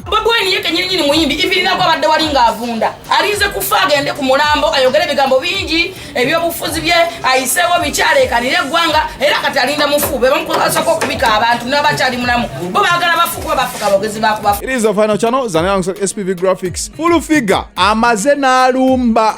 Bobwine yeke nyini nyini muimbi ivi na kwa wadda wali nga avunda alize kufaga ende kumulambo ayogele bigambo bingi ebyo bufuzi bye ayisewo bichale kanile gwanga era katalinda mufu bebo mkusa kwa kubika abantu na bachali mulamu boba agala bafu kwa bafu kwa bogezi baku bafu It is the final channel zanyangu SPV Graphics Full figure amaze na alumba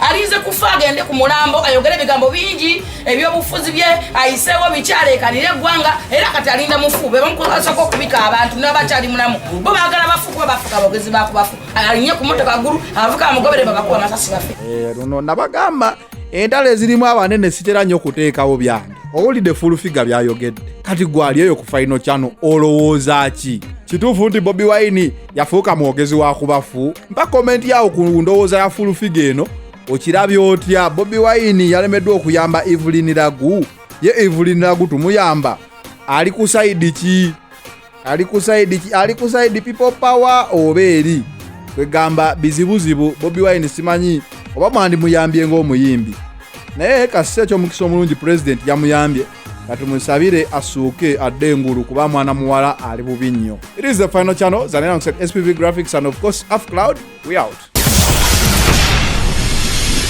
alinze kufa agende ku mulambo ayogere ebigambo bingi ebyobufuzi bye ayiseewo bikyaleekanira eggwanga era kati alinda mufu bebamukozesako okubika abantu nabakyali mulamu bo bagala bafu kuba bafuka abogezi bakubafu alinye ku motoka ggulu abavuka bamugobere babakuba amasasi bafe eh, luno nabagamba entalo ezirimu abanene sitera nnyo okuteekawo byange owulidde fulufiga byayogedde kati gwali eyo ku faino kyano olowooza ki kituufu nti bobi wine yafuuka mwogezi wa kubafu mpa komenti yawo ku ndowooza ya fulufiga eno okirabye otya bobi wayini yalemeddwa okuyamba evelin lagu ye evelin lagu tumuyamba ali ku sayidi ki ali ku sayidi ki ali ku sayidi people power oba eri kwegamba bizibuzibu bobi wayini simanyi oba mwandimuyambye ng'omuyimbi naye kasisi ekyomukisa omulungi pulezidenti yamuyambye katumusabire asuuke adde engulu kuba mwana muwala ali bubi nnyo it is the final channel zanera spv graphics and of course af cloud we out